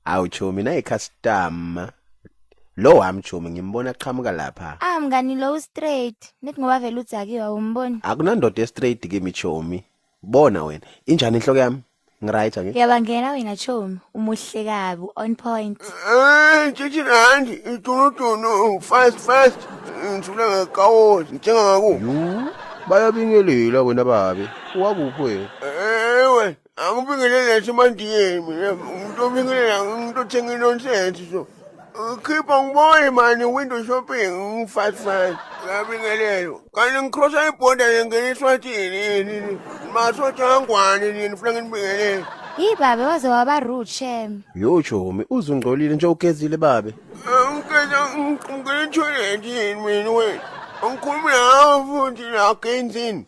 Awu chomi nayi customer. Lo wami chomi ngimbona qhamuka lapha. Ah mngani lo u straight. Nithi ngoba vele udzakiwe awumboni. Akunandoda e straight kimi chomi. Bona wena, injani inhloko yami? Ngiright angithi? Uyabangena wena chomi, umuhle kabi, on point. Eh, tshitshi randi, itunutunu, fast fast, ngithula ngekawoti, ngithenga ngaku. Yuu, bayabingelela wena babe. Wakuphi wena? Ewe, Angibingelele esimandiyeni mina umuntu obingelela umuntu othenga inonsense so. Khipha ngibone mani window shopping ngifive five. Ngiyabingelelo. Kanti ngikrosa ibhoda ngingena eSwatini yini. Masotha angwane nini funa nginibingelele. Hi babe waze waba rude shem. Yo Chomi, uzungcolile nje ugezile babe. Ngicela ngicela itoilet yini mina wena. Angikhulumi nawe futhi la genzini.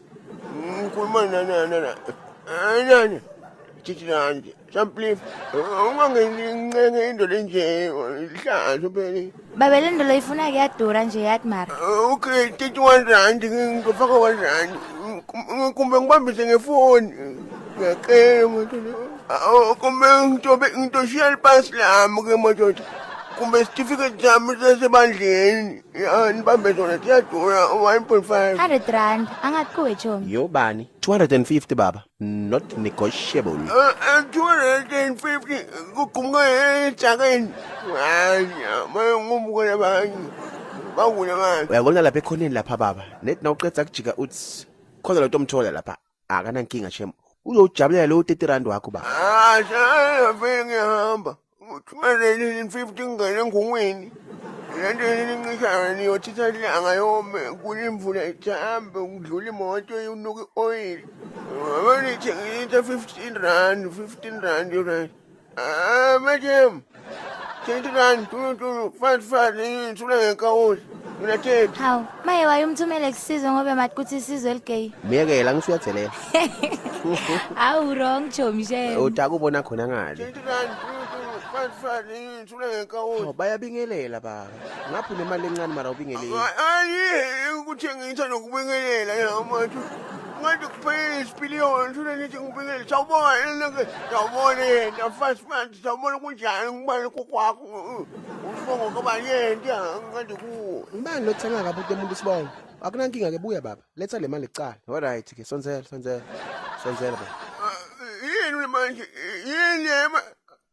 ngikhuluma nani thithi nanje samplif ungangencenke indoda enje ihlazo phela baba le ndolo ifuna ke yadura nje yathi mara okay thithi one rand ngizofaka one rand kumbe ngibambise ngefoni ngiyacela madoda kumbe ngitobe ngitoshiya lipasi lami ke madoda kumbe sitifiketi sami sasebandleni Ya, nibambe zona ziyadura 1.5. 100 rand angathi kuwe chomi yobani 250 baba not negotiable Eh, eh, 250 kugumuka ejakeni. Hayi, maye ngumukela bani. Bangule bani. uyabona lapha ekhoneni lapha baba net nawuqeda kujika uthi khona lo nto omthola lapha akanankinga shem uzojabulela lo 30 rand wakho ba ah shaya ngihamba uthumele 50 ngane ngongweni lento elincishayo niyothitha ilanga yome kulimvula ihambe kudlula imoto unuka i-oyili abanithengisa 15 rand 15 rand right Ah, madam, 20 rand, tulu tulu, fat fat, ngithula ngekawuli. Mina thethu. Hawu, maye wayumthumele kusizwe ngobe mathi kuthi isizwe eligeyi. Myekela ngisho uyadelela. Hawu wrong chomi shame. Utaka ubona khona ngale. 20 rand, tulu tulu, fat fat, ngithula ngekawuli. Bayabingelela baba. ngaphi nemali encane mara ubingeleli ayi ukuthi ngitha nokubingelela yamathu ngathi kuphelele isipiliyoni shona nithi ngibingelele sawubona enake sawubona yena fast man sawubona kunjani ngibani kokwakho usibongo kabani yena ngathi kuwo ngibani lothenga kabi into umuntu isibongo akunankinga ke buya baba letha le mali kuqala alright ke sonzela sonzela sonzela baba yini manje yini yema